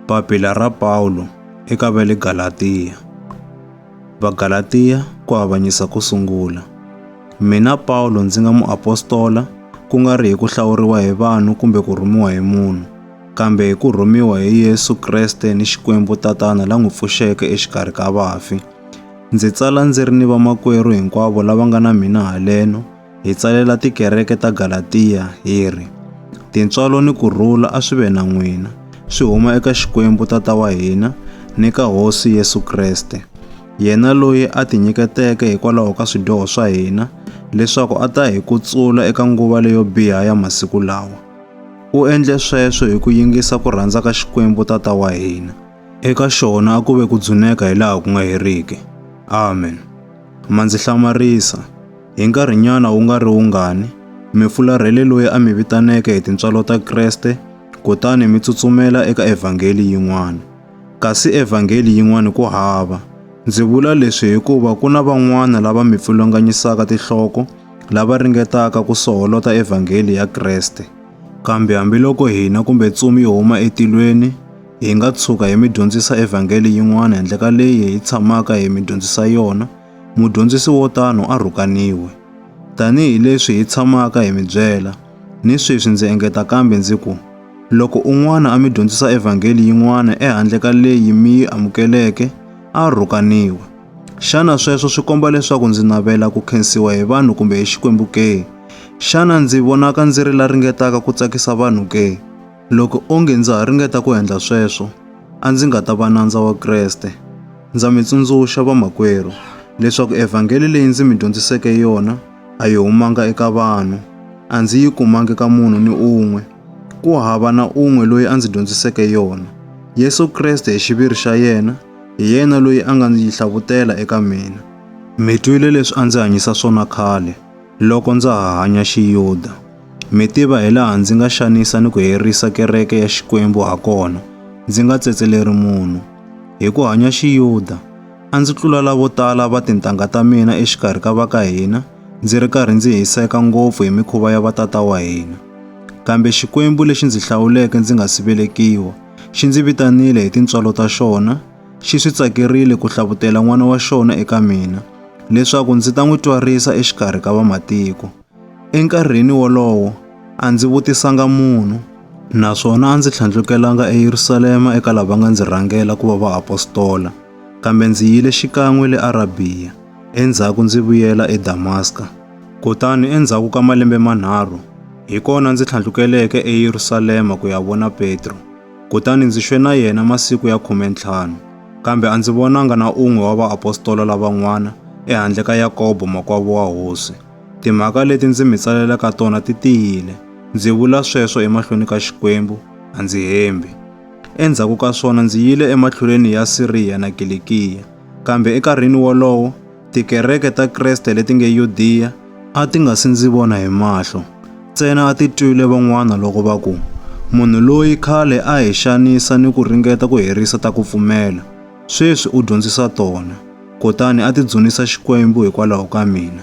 Papila ra Pawulo eka va le Galatiya. Vagalatiya ku avanyisa ku sungula. Mina Pawulo ndzi nga muapostola ku nga ri hi ku hlawuriwa hi vanhu kumbe ku rhumiwa hi munhu, kambe hi ku rhumiwa hi Yesu Kreste ni Xikwembu Tatana la n'wi pfuxeke exikarhi ka vafi. Ndzi tsala ndzi ri ni vamakwerhu hinkwavo lava nga na mina haleno, Hi tsalela tikereke ta Galatiya hi ri, Tintswalo ni ku rhula a swi ve na n'wina, swi huma eka Xikwembu Tata wa hina ni ka Hosi Yesu Kreste, yena loyi a tinyiketeke hikwalaho ka swidyoho swa hina leswaku a ta hi kutsula eka nguva leyo biha ya masiku lawa. U endle sweswo hi ku yingisa ku rhandza ka Xikwembu Tata wa hina. Eka xona a ku ve ku dzuneka hi laha ku nga heriki. Amen. Ma ndzi hlamarisa. Hi nkarhinyana wu nga ri wungani, mi fularhele loyi a mi vitaneke hi tintswalo ta Kreste, kutani mi tsutsumela eka evhangeli yin'wana. Kasi evhangeli yin'wana ku hava. Ndzi vula leswi hikuva ku na van'wana lava mi pfulunganyisaka tinhloko, lava ringetaka ku soholota evhangeli ya Kreste. Kambe hambiloko hina kumbe ntsumi yi huma etilweni, Hi nga tshuka hi mi dyondzisa evhangeli yin'wana handle ka leyi hi tshamaka hi mi dyondzisa yona, mudyondzisi wo tano a rhukaniwe. Tanihi leswi hi tshamaka hi mi byela, ni sweswi ndzi engeta kambe ndzi ku, loko un'wana a mi dyondzisa evhangeli yin'wana ehandle ka leyi mi yi amukeleke, a rhukaniwe. Xana sweswo swi komba leswaku ndzi navela ku khensiwa hi vanhu kumbe hi Xikwembu ke? Xana ndzi vonaka ndzi ri la ringetaka ku tsakisa vanhu ke? Loko onge ndza ha ringeta ku endla sweswo, a ndzi nga ta va nandza wa Kreste. Ndza mi tsundzuxa, vamakwerhu, leswaku evhangeli leyi ndzi mi dyondziseke yona a yi humanga eka vanhu, a ndzi yi kumangi ka munhu ni un'we. Ku hava na un'we loyi a ndzi dyondziseke yona. Yesu Kreste hi xiviri xa yena, hi yena loyi a nga ndzi yi hlavutela eka mina. Mi twile leswi a ndzi hanyisa swona khale, loko ndza ha hanya Xiyuda. Mi tiva hilaha ndzi nga xanisa ni ku herisa kereke ya Xikwembu hakona, ndzi nga tsetseleri munhu. Hi ku hanya Xiyuda, a ndzi tlula lavo tala va tintangha ta mina exikarhi ka va ka hina, ndzi ri karhi ndzi hiseka ngopfu hi mikhuva ya vatata wa hina. Kambe Xikwembu lexi ndzi hlawuleke ndzi nga si velekiwa, xi ndzi vitanile hi tintswalo ta xona, xi swi tsakerile ku hlavutela n'wana wa xona eka mina, leswaku ndzi ta n'wi twarisa exikarhi ka vamatiko. Enkarhini wolowo a ndzi vutisanga munhu, naswona a ndzi tlhandlukelanga eYerusalema eka lava nga ndzi rhangela ku va vaapostola, kambe ndzi yile xikan'we le Arabiya, endzhaku ndzi vuyela eDamaska. Kutani endzhaku ka malembe manharhu, hi kona ndzi tlhandlukeleke eYerusalema ku ya vona Petro, kutani ndzi xwe na yena masiku ya khume ntlhanu. Kambe a ndzi vonanga na un'we wa vaapostola lavan'wana ehandle ka Yakobo makwavo wa Hosi. Timhaka leti ndzi mi tsalelaka tona ti tiyile. Ndzi vula sweswo emahlweni ka Xikwembu, a ndzi hembi. Endzhaku ka swona ndzi yile ematlhelweni ya Siriya na Kilikiya, kambe enkarhini wolowo tikereke ta Kriste leti nge Yudiya a ti nga si ndzi vona hi mahlo, ntsena a ti twile van'wana loko va ku, Munhu loyi khale a hi xanisa ni ku ringeta ku herisa ta ku pfumela, sweswi u dyondzisa tona, kutani a ti dzunisa Xikwembu hikwalaho ka mina.